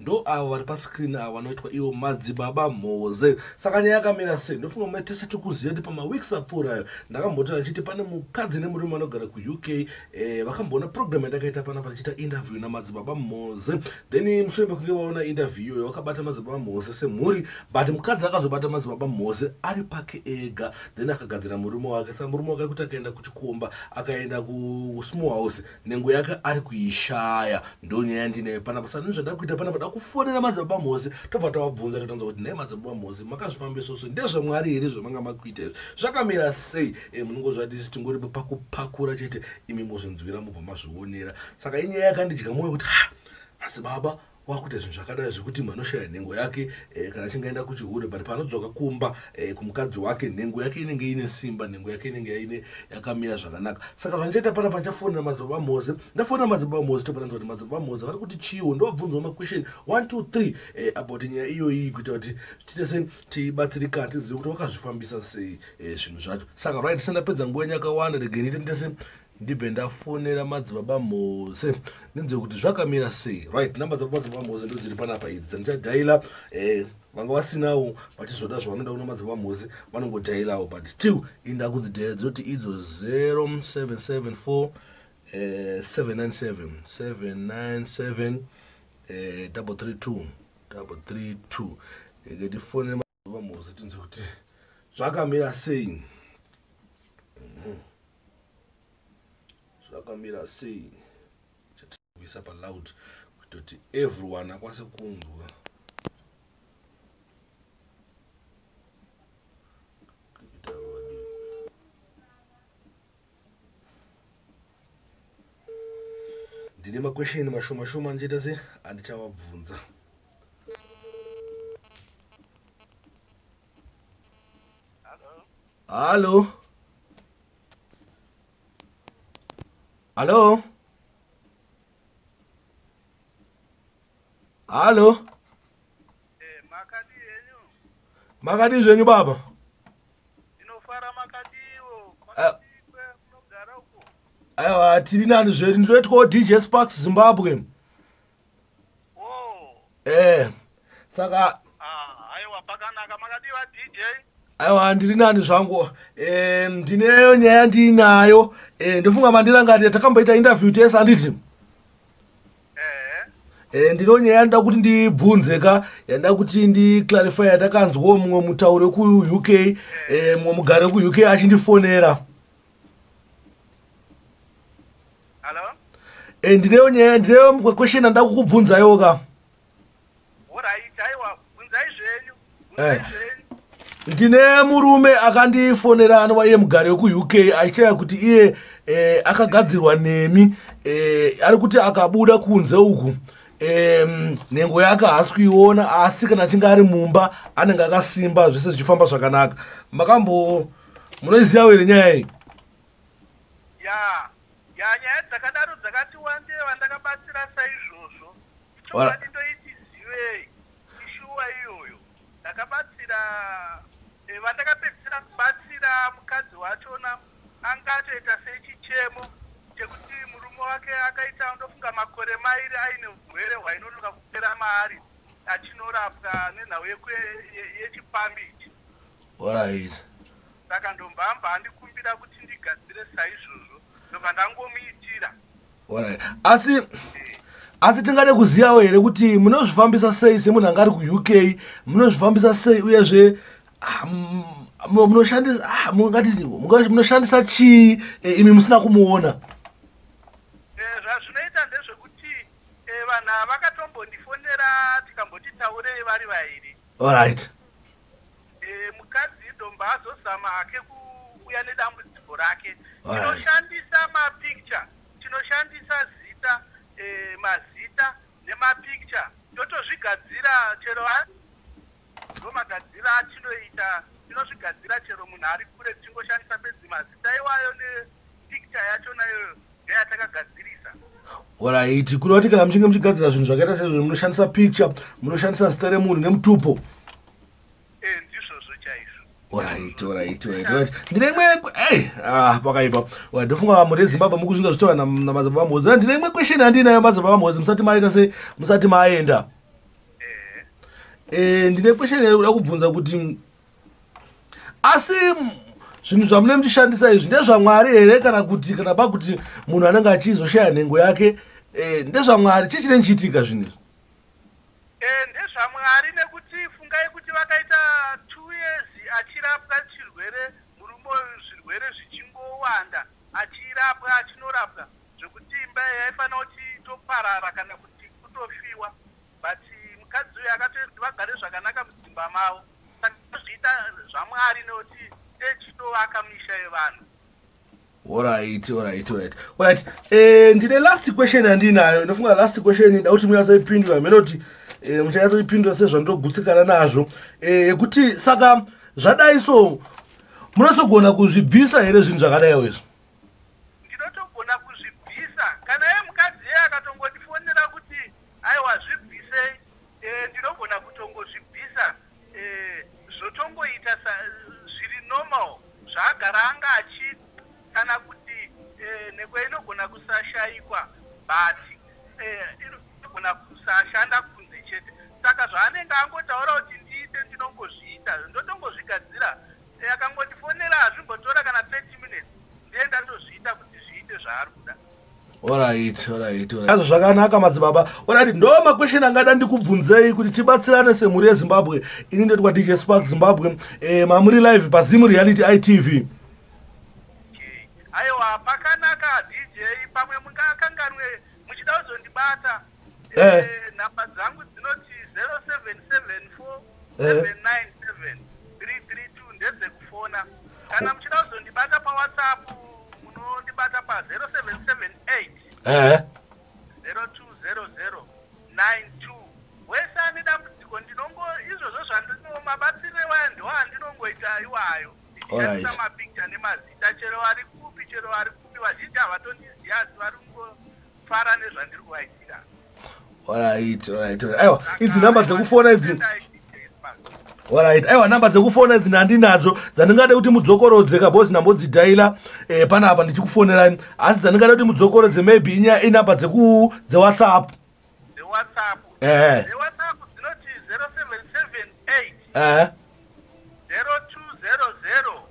ndo avo vari pascreen avo vanoitwa ivo madzibaba mhoze saka nyaya yakamira sei ndofunga mai tese tikuziva kuti pamaweeks apfuura ayo ndakambotona ndichiti pane mukadzi nemurume vanogara kuuk eh, vakamboona program yandakaita pana vachiita interview namadzibaba mhoze then mushure mekunge vaona interview iyoyo vakabata madzibaba mhoze semhuri but mukadzi akazobata madzibaba mhoze ari pake ega then akagadzira murume wake saka murume wake kuti akaenda kuchikomba akaenda kusmall house nengo yake ari kuishaya ndonyaya yandineyo panapa sani zvada kuita panapa da kufonera madzibaba mhozi tobva tavabvunza totanza kuti nhai madzibaba mhozi makazvifambisoso ndezvamwari here zvamanga makuita izvi zvakamira sei e, munongozvadisi tingori pakupakura chete imi mozvinzwira mubva mazvionera saka inyaya yakandidya mwoyo kuti ha madzibaba wakuita zvinhu zvakadai zvekuti mwe anoshaya nhengo yake eh, kana achinge aenda kuchihure but paanodzoka kumba eh, kumukadzi wake nhengo yake inenge ine simba nhengo yake inenge yaine yakamira zvakanaka saka zvandichaita pana pandichafonera madzibaba vamoze ndafonera madzibaba vamoze topananza kuti madzibaba vamoze vari kuti chiwo ndovabvunzwa maquestion one two three eh, about nyaya iyoyi kuita kuti tiite se tibatsirikana tizive kuti wakazvifambisa sei eh, zvinhu eh, zvacho saka right sendapedza nguva yenyu yakawanda regenite ndese ndibve ndafonera madzibaba mose ndinzwe kuti zvakamira sei right number dzako madzibaba mose ndo dziri panapa idzi dzandichadhaila um eh, vanga vasinawo vachizoda zvavanoda kuna madzibaba mose vanongodhailawo but still inda kudzidhaila dzinoti idzo 0774 797 797 332 332 ngetifonera vamozi tinzwe kuti zvakamira sei mhm. zvakamira sei chatikuisa paloud kutoti everyone akwase kunzwa ndine makwesheni mashoma shoma ndichaita se andichavabvunza hallo hallo hallo makadii zvenyu baba aiwa tiri nani zvedu ndinoitwawo dj sparks zimbabwe ee eh, saka ah, aiwa ndiri nani zvangu eh, ndineyo nyaya ndiinayo eh, ndofunga mandirangarira takamboita interview tese handiti Eh, ndino nyaya yandoda kuti ndibvunze ka yandoda kuti ndiclarify yatakanzwawo mumwe mutauri wekuuk eh, mumwe mugari wekuuk achindifonera eh, ndineyo nyaya ndineyo mumwe question andoda kukubvunzayoka Eh. ndine murume akandifonera anova iye mugari wekuuk achitaya kuti iye eh, akagadzirwa nemi eh, ari kuti akabuda kunze uku nhengo yake haasi kuiona asi kana achinge ari mumba anenge akasimba zvese zvichifamba zvakanaka makambo munoiziva were nyaya iyi Yaa nyaya dzakadaro dzakati wandei vandakabatsira saizvozvo ichokwadi ndoiti zivei ishuwa iyoyo ndakabatsira eh, vandakapedzisira kubatsira mukadzi wachona anga atoita sechichemo chekuti murume wake akaita ndofunga makore mairi aine urwere hwainonoka kupera maari achinorapwa nenhau yechipambi ichi Alright. saka ndombamba andikumbira kuti ndigadzire saizvozvo ndobva ndangomuitira alright asi eh. asi tingade kuzivawo here kuti munozvifambisa sei semunhu anga ari kuuk munozvifambisa sei uyezve ah, munoshandisa ah, munoshandisa chii eh, imi musina kumuona eh, zvazvinoita ndezvekuti eh, vanhu vakatombo ndifonera tikamboti taurei vari vairi allright mukadzi idombo azozama hake kuuya nedambudziko rake tinoshandisa mapicture tinoshandisa zita eh, mazita nemapicture totozvigadzira chero ndomagadzira atinoita tinozvigadzira chero munhu ari kure tichingoshandisa bedzi mazita iwayo ne Picture yacho nayo ndeyatakagadzirisa. Horaiti, kuda kuti kana muchinge muchigadzira zvinhu zvakaita sezvo munoshandisa picture, munoshandisa zita remunhu nemutupo. Eh, ndizvozvo chaizvo. Horaiti, horaiti, horaiti. Ndine imwe eh ah pakaipa. Wa ndofunga vamwe reZimbabwe mukuzvinza zvitaura na madzibaba Mhozi. Ah, ndine imwe question handinayo madzibaba Mhozi musati maita se musati maenda. Eh. Eh, ndine question yakuda kubvunza kuti asi zvinhu zvamune muchishandisa izvi ndezvamwari here kana kuti kana pa kuti munhu anenge achizoshaya nhengo yake eh, ndezvamwari chii chinenge chiitika zvinhu izvi eh, ndezvamwari nekuti fungai kuti vakaita two years achirapwa chirwere murume zvirwere zvichingowanda achirapwa achinorapwa zvekuti imba yaifanira kuti itoparara kana kuti kutofiwa But mukadzi uyu akatoita kuti vagare zvakanaka mudzimba mavo saka tozviita zvamwari nekuti techitovaka misha yevanhu orit orit orit orit eh, ndine last question yandiinayo ndofunga last question ida kuti munyatsoipindura mhene kuti eh, muchanyatsoipindura sezvandogutsikana nazvo eh, yekuti saka zvadai so munatogona kuzvibvisa here zvinhu zvakadaiwo izvo Aiwa zvibvisei eh, ndinogona kutongozvibvisa eh, zvotongoita sa zviri normal zvaagara anga achiita kana kuti eh, nhekwe inogona kusashaikwa but eh, inogona kusashanda kunze chete saka zvaanenge angotaura kuti ndiite ndinongozviita ndotongozvigadzira Ehe akangondifonera hazvimbotora kana 30 minutes ndiye ndatozviita kuti zviite zvaari kuda. Alright, alright, alright. Azvo zvakanaka madzibaba. Alright, ndo ma question angada ndikubvunzei kuti tibatsirane semhuri yeZimbabwe. Ini ndetwa DJ Spark Zimbabwe. Eh mamuri live pa Zim Reality ITV. Okay. Aiwa pakanaka DJ pamwe mungakanganwe muchida kuzondibata. eh. eh, nhamba dzangu dzinoti 0774 797 332 ndedzekufona kana muchida kuzondibata pawhatsapp munondibata pa 0778 eh. 0200 92 wese ane dambudziko ndinongo izvozvo zvandino mabatsiro iwayo ndiwo andinongoita iwayo ndichiisa mapicture nemazita chero vari kupi chero vari kupi vazhinji havatondiziva asi vari fara nezvandiri kuvaitira alright alright aiwa idzi number dzekufona idzi alright aiwa number dzekufona idzi ndandinadzo dzandingade kuti mudzokorodze kabhozi ndambodzidhaila eh, pana apa ndichikufonerai asi dzandingade kuti mudzokorodze maybe inya inumber dzeku dzewhatsapp dzewhatsapp eh dzewhatsapp dzinoti 0778 eh 0200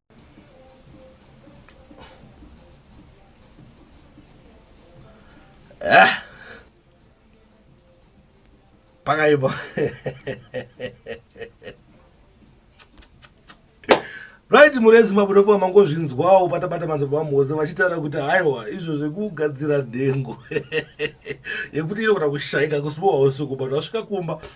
Ah. Pakaipa. right murezi mabudofa mangozvinzwawo patabata manzobva vamuhoza vachitaura kuti haiwa izvo zvekugadzira nhengo yekuti inogona kushaika kusibowa usiku but vasvika kumba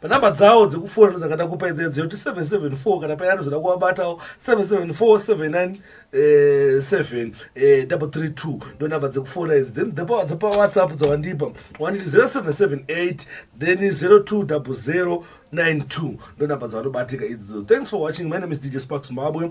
panhamba dzawo dzekufona ndodzanga ndakupa idzi 0774 kana payani zvoda kuvabatawo 774797 eh, eh, ndonhamba dzekufona idzi then dzepawhatsapp dzawandipa wanditi 0778 then 020092 ndonhamba dzawanobatika idzidzo thanks for watching my name is dj spark zimbabwe